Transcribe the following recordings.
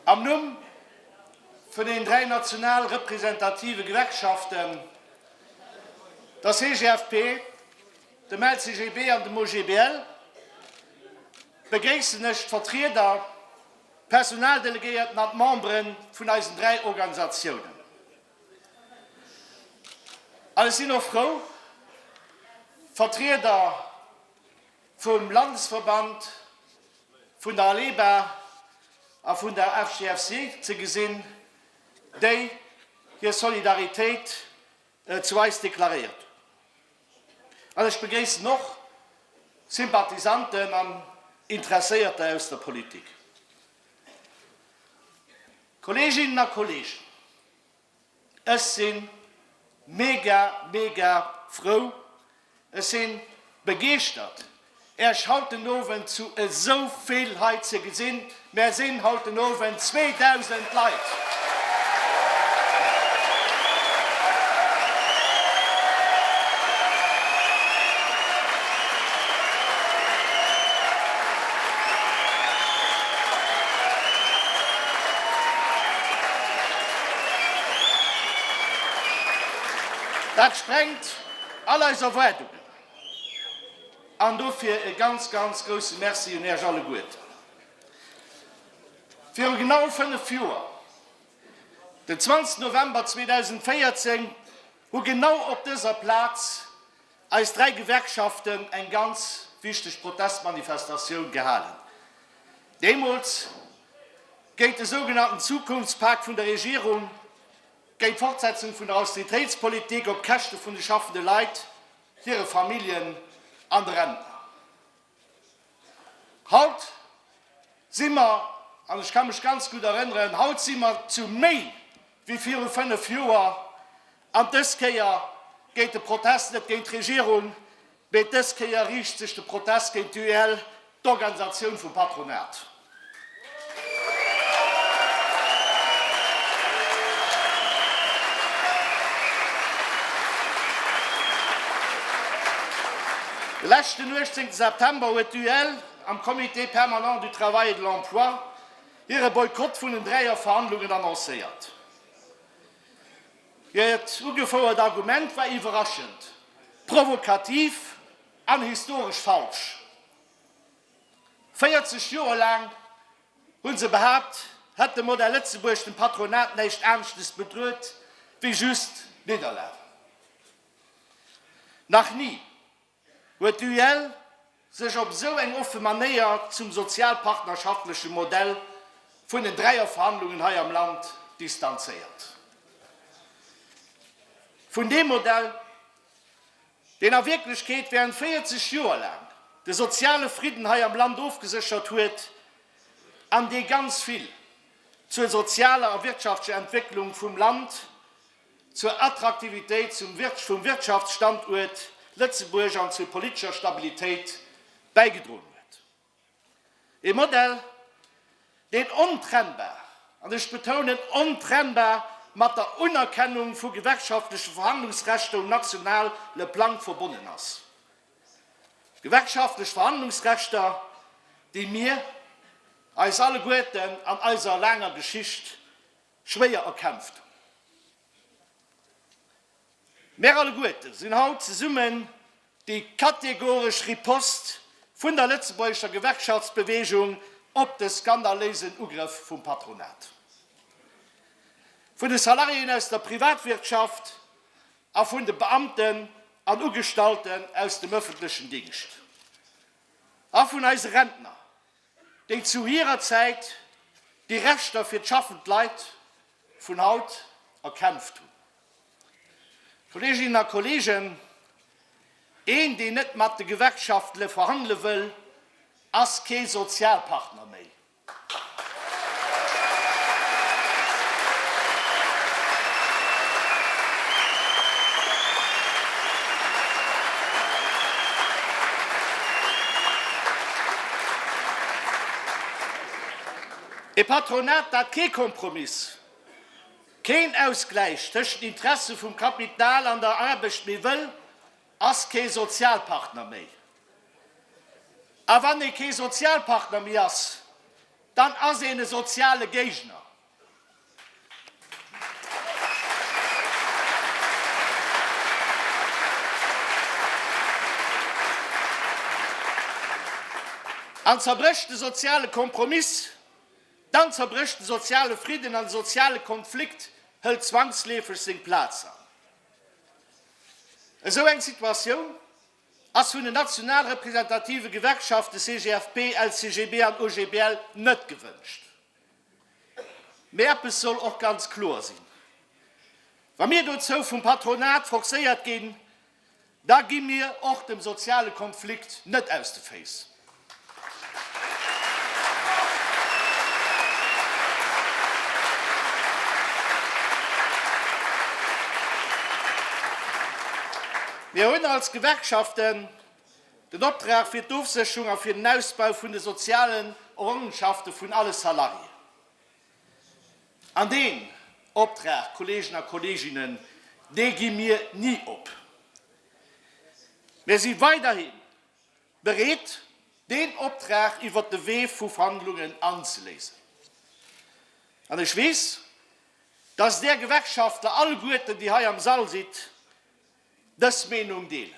Am Numm vun den dräi national representative Gewerkschaften, der CGFP, dem LCGB an dem OGBL, begréissen ech d'Vertrieder, D'Personaldelegéierten an d'Membere vun eisen dräi Organisatiounen. An ech sinn och frou, Vertrieder vum Landesverband vun der ALEBA a vun der FGFC ze gesinn, déi hir Solidaritéit zu eis deklaréiert hunn. An ech begréissen och Sympathisanten an Interesséierter aus der Politik. Kolleeginnen a Kolleegen, ech si mega, mega frou, Ech sin begeeschtert Äech haut den Owend zu esou vill hei ze gesin. Mär sin haut den Owend 2000 Leit. Dat sprengt All eis Erwaardungen. An dofir e ganz, ganz grousse Merci un Äech alleguerten. Viru genau 5 Joer, den 20 November 2014, hu genau op dëser Plaz eis 3 Gewerkschaften eng ganz wichteg Protestmanifestatioun gehalen. Deemools géint de sougenannten Zukunftspak vun der Regierung. Géint d'Fortsetzung vun der Austeritéitspolitik op Käschte vun de schaffende Leit, hire Familljen an de Rentner. Haut si mer, an ech ka mech ganz gutt erënneren, haut si mer zu méi wéi viru fënnef Joer. An dës Kéier geet de Protest net géint d'Regierung, Mee dës Kéier riicht sech de Protest géint d'UEL, d'Organisatioun vum Patronat. Leschten 18 September huet d'UEL am Comité permanent du Travail et de l'Emploi hire Boykott vun den Dräier-Verhandlungen annoncéiert. Hiert ugefouert Argument war iwwerraschend, provokativ an historesch falsch. 40 Joer laang hu se behaapt, hätt de Modell Lëtzebuerg dem Patronat näischt aneschtes bedruet wéi just Nidderlag. Nach ni Huet d'UEL sech op esou eng offe Manéier zum sozialpartnerschaftleche Modell vun den Dräierverhandlungen hei am Land distanzéiert? Vun deem Modell, deen a Wierklechkeet während 40 Joer laang de soziale Fridden hei am Land ofgeséchert huet an dee ganz vill zur sozialer a wirtschaftlecher Entwécklung vum Land zur Attraktivitéit vum Wirtschaftsstanduert Lëtzebuerg an zur politescher Stabilitéit bäigedroen huet. Ee Modell, deen ontrennbar, an ech betounen ontrennbar, mat der Unerkennung vu gewerkschaftleche Verhandlungsrechter um nationale Plang verbonnen ass, gewerkschaftlech Verhandlungsrechter, déi mir eis alleguerten an eiser laanger Geschicht Schwéier erkämpft. Mär alleguerte sinn haut zesummen déi kategoresch Ripost vun der lëtzebuergescher Gewerkschaftsbeweegung op de skandaléisen Ugrëff vum Patronat, vun de Salariéen aus der Privatwirtschaft a vun de Beamten an Ugestallten aus dem ëffentlechen Dingscht a vun eise Rentner, déi zu hirer Zäit déi Rechter fir d'schaffend Leit vun haut erkämpft hunn. Kolleeginnen a Kolleegen, een, deen net mat de Gewerkschaftele verhandele wëll, ass kee Sozialpartner méi. E Patronat, dat kee Kompromiss, keen Ausgläich tëschent den Interesse vum Kapital an der Aarbecht méi wëll, ass kee Sozialpartner méi. A wann ee kee Sozialpartner méi ass, dann ass een e soziale Géigner. Dann zerbrécht de soziale Kompromiss, dann zerbrécht de soziale Fridden an de soziale Konflikt hëlt zwangsleefeg seng Plaz an. Esou eng Situatioun ass vun den national representative Gewerkschafte CGFP, LCGB an OGBL net gewënscht. Mee eppes soll och ganz kloer sinn, Wa mir dozou vum Patronat forcéiert ginn, da gi mir och dem soziale Konflikt net aus de Féiss. Mir hunn als Gewerkschaften Den Optrag fir d'Ofsécherung a fir den Ausbau vun de sozialen Errongenschafte vun alle Salariéen. An deen Optrag, Kolleegen a Kolleeginnen, dee gi mir ni op. Mir si weiderhi bereet, deen Optrag iwwert de Wee vu Verhandlungen anzeléisen. An ech weess, dass Där Gewerkschaftler alleguerten, déi hei am Sall sidd, dës Meenung deelen.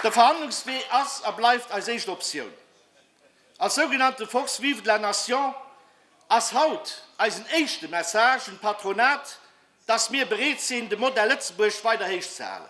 De Verhandlungswee ass a bleift eis éischt Optioun. Als sougenannte Force vive de la nation ass haut eisen éischte Message un d'Patronat, dass mir bereet sinn, de Modell Lëtzebuerg weider héich ze halen.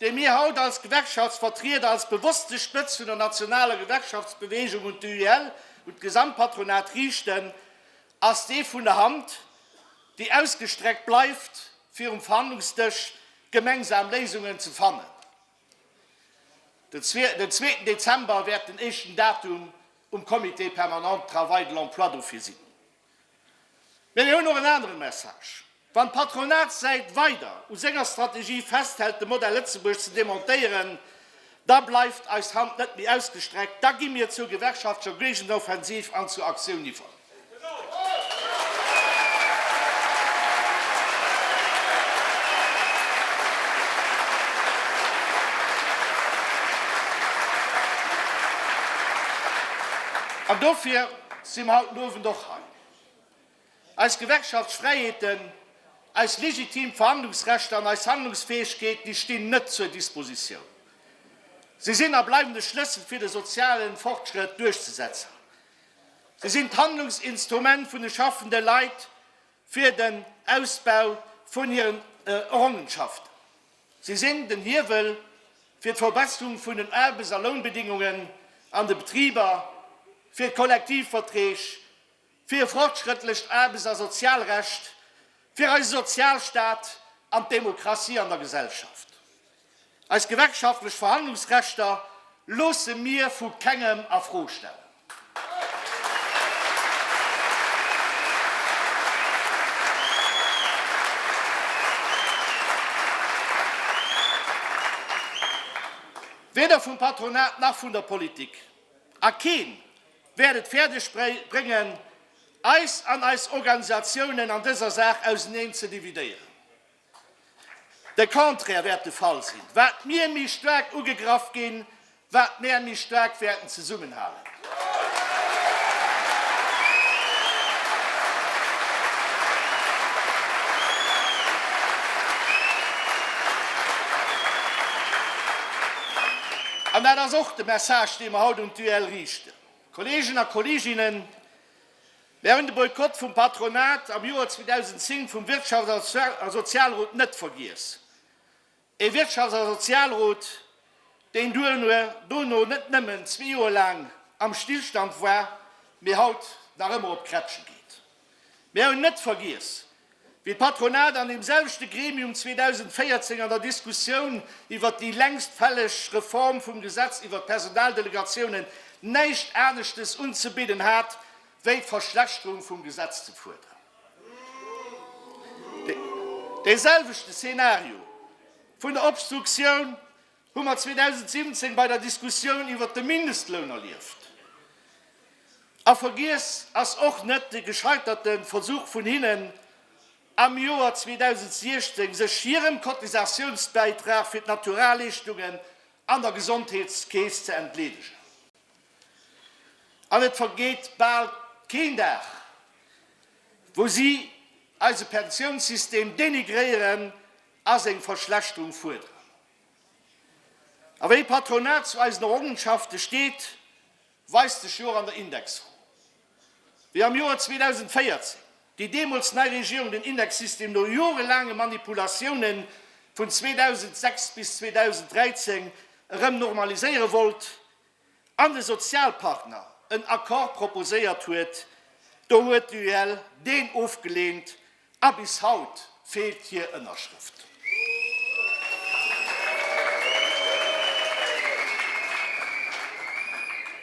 déi mir haut als Gewerkschaftsvertrieder, als bewosste Spëtz vun der nationaler Gewerkschaftsbeweegung un d'UIL, un d'Gesamtpatronat riichten, ass dee vun der Hand, déi ausgestreckt bleift, fir um Verhandlungsdësch gemengsam Léisungen ze fannen. Den zweeten Dezember wäert den éischten Datum um Comité permanent Travail de l'emploi dofir sinn. Mee mir hunn och en anere Message. Wann d'Patronatssäit weider u senger Strategie festhält, de Modell Lëtzebuerg ze demontéieren, da bleift eis Hand net méi ausgestreckt, da gi mir zur gewerkschaftlecher Géigenoffensiv an zur Aktioun iwwer. An dofir si mer haut den Owend och hei. Eis Gewerkschaftsfräiheeten, eis legitim Verhandlungsrechter an eis Handlungsfäegkeet, déi stinn net zur Dispositioun. Si sinn a bleiwen de Schlëssel fir de soziale Fortschrëtt duerchzesetzen. Si sinn d'Handlungsinstrument vun de schaffende Leit fir den Ausbau vun hiren Errongenschaften. Si sinn den Hiewel fir d'Verbesserung vun den Aarbechts a Lounbedingungen an de Betriber, fir d'Kollektivverträg, fir e fortschrëttlecht Aarbechts a Sozialrecht, fir eise Sozialstaat an d'Demokratie an der Gesellschaft. Eis gewerkschaftlech Verhandlungsrechter loosse mir vu kengem a Fro stellen. Weder vum Patronat nach vun der Politik, a keen wäert et fäerdeg bréngen, eis an eis Organisatiounen an dëser Saach auseneen ze dividéieren. De Contraire wäert de Fall sinn, wat mir méi staark ugegraff ginn, wat mär méi staark wäerten zesummenhalen. An dat ass och de Message, dee mer haut un d'UEL riichten. Kolleegen a Kolleeginnen, Wären de Boykott vum Patronat am Joer 2010 vum Wirtschafts a Sozialrot net vergiess, ee Wirtschafts a Sozialrot, deen duerno dono net nëmmen zwee Joer laang am Stillstand war, mee haut nach ëmmer op Krätsche geet. Mir hunn net vergiess, Wéi d'Patronat an deem selwechte Gremium 2014 an der Diskussioun iwwert déi längst fälleg Reform vum Gesetz iwwert d'Personaldelegatiounen näischt aneschtes unzebidden hat, wéi d'Verschlechterung vum Gesetz ze fuerderen. Dee selwechte Szenario vun der Obstruktioun hu mer 2017 bei der Diskussioun iwwert de Mindestloun erlieft, a vergiess ass och net de gescheiterte Versuch vun hinnen, am Joer 2016 sech hirem Cotisatiounsbäitrag fir d'Naturaleeschtungen an der Gesondheetskeess ze entleedegen. An et vergeet bal keen Dag, wou si eise Pensiounssystem denigréieren a seng Verschlechterung fuerderen. A wéi d'Patronat zu eisen Errongenschafte steet, weist sech jo och an der Indexrou. Wéi am Joer 2014 déi deemools nei Regierung den Indexsystem no jorelaange Manipulatiounen vun 2006 bis 2013 erëm normaliséiere wollt, an de Sozialpartner en Accord proposéiert huet, do huet d'UEL deen ofgeleent a bis haut feelt hir Ënnerschrëft.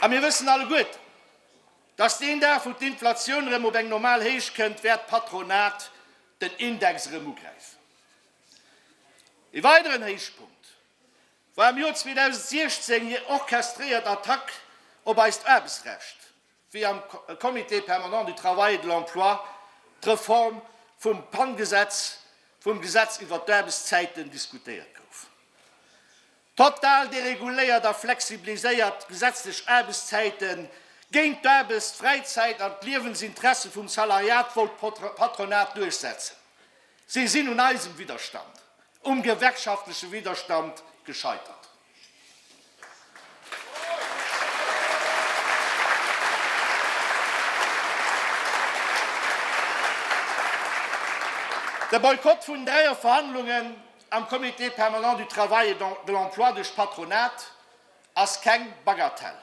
A mir wëssen alleguerte, datt deen Dag, wou d'Inflatioun erëm op eng normal Héicht kënnt, wäert d'Patronat den Index erëm ugräifen. Ee weideren Héichpunkt War am Joer 2016 hir orchestréiert Attack op eist Aarbechtsrecht, wéi am Comité permanent du travail et de l'emploi d'Reform vum PAN-Gesetz, vum Gesetz iwwert d'Aarbechtszäiten, diskutéiert gouf. Total dereguléiert a flexibiliséiert gesetzlech Aarbechtszäite géint d'Aarbechts-, d'Fräizäit an d'Liewensinteresse vum Salariat wollt d'Patronat duerchsetzen. Si sinn un eisem Widderstand, um gewerkschaftleche Widderstand gescheitert. De Boykott vun dräie Verhandlungen am Comité permanent du travail et de l'emploi duerch d'Patronat ass keng Bagatelle.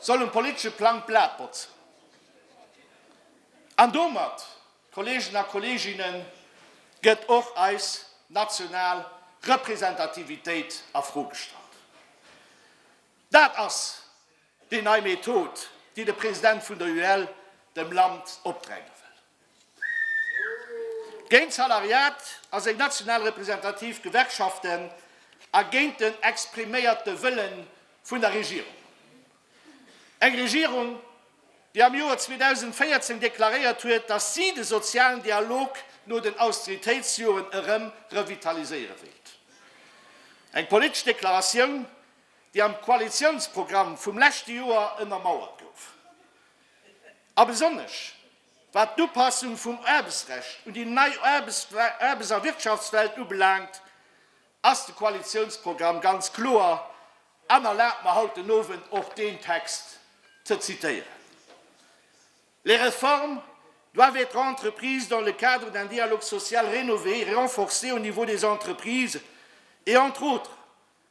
soll um politesche Plang d'Blat botzen an domat, Kolleegen a Kolleeginnen, gëtt och eis national Representativitéit a Fro gestallt. Dat ass déi nei Method, déi de President vun der UEL dem Land opdränge wëll. Géint d'Salariat a seng national representativ Gewerkschaften a géint den expriméierte Wëlle vun der Regierung. Eng Regierung, déi am Joer 2014 deklaréiert huet, datt si de sozialen Dialog no den Austeritéitsjoren erëm revitaliséiere wéilt. Eng politesch Deklaratioun, déi am Koalitiounsprogramm vum leschte Joer ënnermauert gouf. A besonnesch Wat d'Upassung vum Aarbechtsrecht un déi nei Aarbechtswelt a Wirtschaftswelt ubelaangt, ass de Koalitiounsprogramm ganz kloer, an erlaabt mer haut den Owend och deen Text ze zitieren, Les réformes doivent être entreprises dans le cadre d'un dialogue social rénové et renforcé au niveau des entreprises et, entre autres,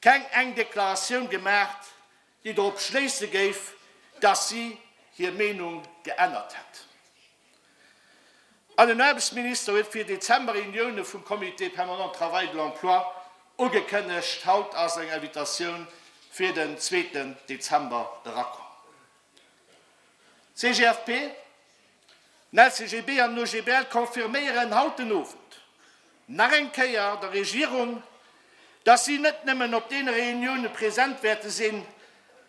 keng eng Deklaratioun gemaacht, déi dorop schléisse géif, dass si hir Meenung geännert hätt. An den Aarbechtsminister huet fir Dezember Reunioune vum Comité permanent Travail de l'emploi ugekënnegt. Haut ass eng Invitatioun fir den zweeten Dezember erakomm. CGFP. D'LCGB an den OGBL confirméieren haut den Owend nach eng Kéier der Regierung, dass si net nëmmen op deene Reunioune present wäerte sinn,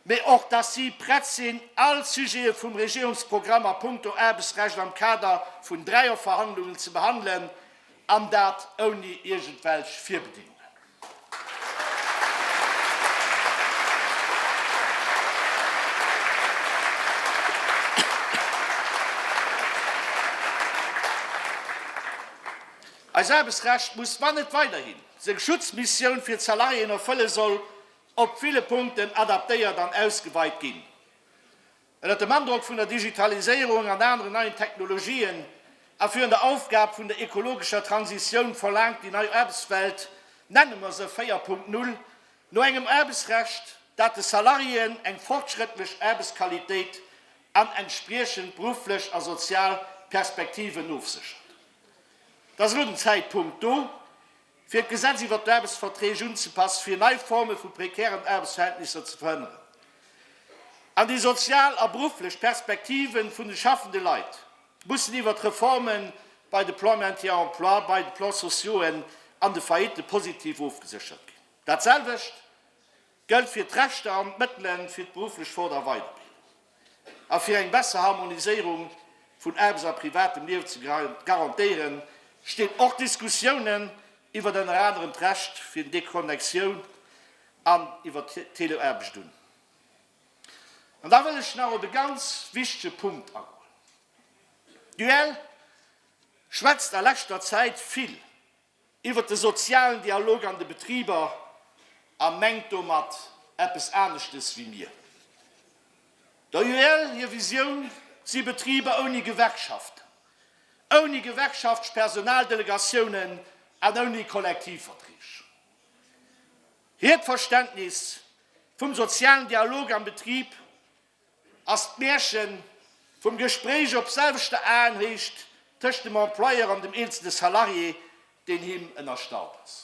mä och dass si prett sinn, all Sujete vum Regierungsprogramm a puncto Aarbechtsrecht am Kader vun Dreierverhandlungen ze behandelen, An dat ouni iergendwelch Virbedingungen. Eis Aarbechtsrecht muss, wann et weiderhin seng Schutzmissioun fir d'Salariéen erfëlle soll, op ville Punkten adaptéiert an ausgeweit ginn. Ënnert dem Androck vun der Digitaliséierung an aneren neien Technologien a virun der Aufgab vun der ekologescher Transitioun verlaangt déi nei Aarbechtswelt, nenne mer se 4.0, no engem Aarbechtsrecht, dat de Salariéen eng fortschrëttlech Aarbechtsqualitéit an entspriechend berufflech a sozial Perspektiven ofséchert. Et ass elo den Zäitpunkt do, fir d'Gesetz iwwert d'Aarbechtsverträg unzepassen, fir nei Forme vu prekären Aarbechtsverhältnisser ze verhënneren an déi sozial a berufflech Perspektive vun de schaffende Leit mussen iwwert d'Reforme bei de Plans Maintien Emploi, bei de Plans sociauxen an de Faillitten positiv ofgeséchert ginn. Datselwecht gëllt fir d'Rechter an d'Mëttele fir d'berufflech Fort a Weiderbildung a fir eng besser Harmoniséierung vun Aarbechts a privatem Liewen ze garantéieren, stinn och Diskussiounen iwwert ënner anerem d'Recht fir den Déconnexioun an iwwert d'Teleaarbecht un. An da wëll ech nach op e ganz wichtege Punkt agoen. D'UEL schwätzt a leschter Zäit vill iwwert de sozialen Dialog an de Betriber a mengt domat eppes aneschtes wéi mir. Der UEL hir Visioun si Betriber ouni Gewerkschaften, ouni Gewerkschaftspersonaldelegatiounen an ouni Kollektivverträg. Hiert Verständnis vum sozialen Dialog am Betrib Ass d'Märchen vum Gespréich op selwechter Aenhéicht tëscht dem Employeur an dem eenzelne Salarié, deen him ënnerstallt ass.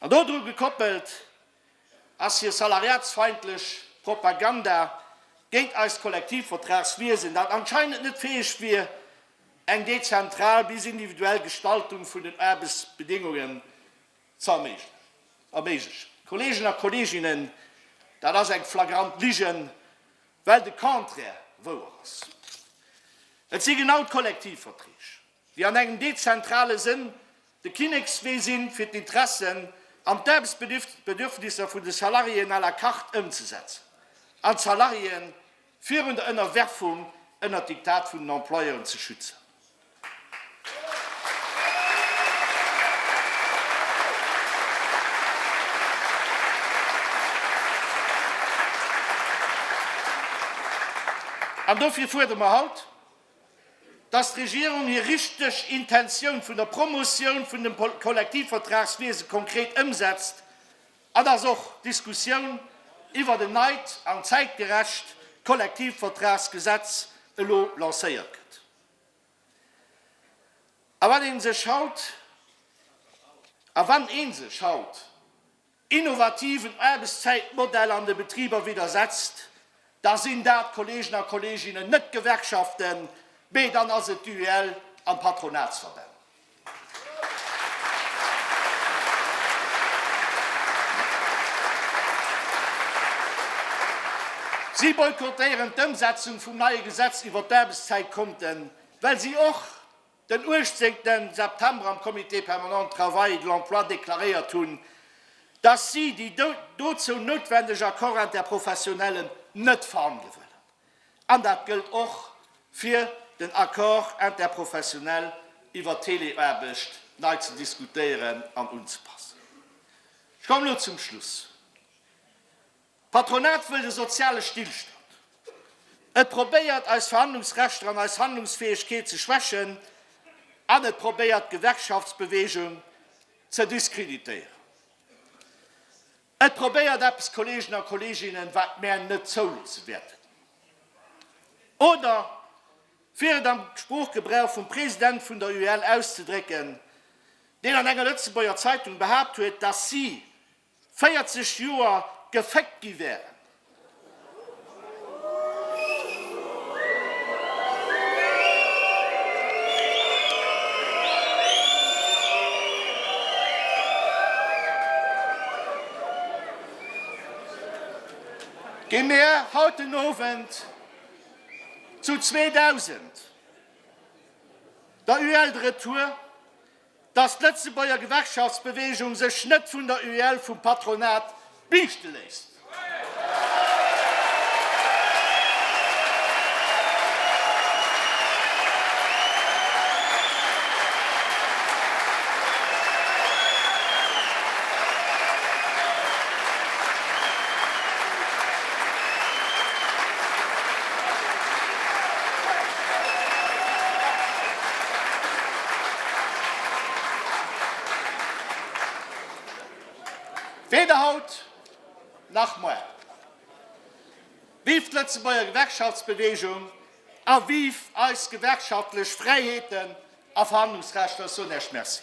An dodru gekoppelt ass hir salariatsfeindlech Propaganda géint eist Kollektivvertragswiesen, dat anscheinend net fäeg wier, eng dezentral bis individuell Gestaltung vun den Aarbechtsbedingungen ze erméiglechen. Kolleegen a Kolleeginnen, dat ass eng flagrant Lige, well de Contraire wouer ass. Et si genau d'Kollektivverträg, déi an engem dezentrale Sënn de Kinnekswee sinn, fir d'Interessen an d'Aarbechtsbedürfnisser vun de Salariéen à la carte ëmzesetzen an d'Salariéen, Virun der Ënnerwerfung ënnert d'Diktat vun den Employeuren ze schützen. An dofir fuerdere mer haut, dass d'Regierung hir richteg Intentioun vun der Promotioun vun dem Kollektivvertragswiese konkret ëmsetzt Et ass och d'Diskussioun iwwert en neit an zäitgerecht Kollektivvertragsgesetz elo lancéiert gëtt. A wann ee sech haut, a wann ee sech haut innovativen Aarbechtszäitmodell an de Betriber widdersetzt, da sinn dat, Kolleegen a Kolleeginnen, net d'Gewerkschaften, mee dann ass et d'UEL an d'Patronatsverbänn. Si boykottéieren d'Ëmsetzung vum neie Gesetz iwwer d'Aarbechtszäitkonten, well si och den 18 September am Comité permanent de travail et de l'emploi deklaréiert hunn, dass si déi dozou noutwendeg Accords interprofessionnellen net verhandele wëllen. An dat gëllt och fir den Accord interprofessionnel iwwer d'Teleaarbecht nei ze diskutéieren an unzepassen. Ech kommen elo zum Schluss. D'Patronat wëllt e soziale Stillstand. Et probéiert eis Verhandlungsrechter an eis Handlungsfäegkeet ze schwächen an et probéiert d'Gewerkschaftsbewegung ze diskreditéieren. Et probéiert eppes, Kolleegen a Kolleeginnen, wat mär net zouloosse wäerten. Oder fir et am Sproochgebrauch vum President vun der UEL auszedrécken, deen an enger Lëtzebuerger Zeitung behaapt huet, datt si 40 Joer geféckt gi wären. Gi mir haut den Owend zu 2000 der UEL de Retour. Dass d'Lëtzebuerger Gewerkschaftsbewegung sech net vun der UEL vum Patronat biichte léisst. Weder haut nach moar. Vive d'Lëtzebuerger Gewerkschaftsbewegung a vive eis gewerkschaftlech Fräiheeten a Verhandlungsrechter. Ech soen Iech Merci.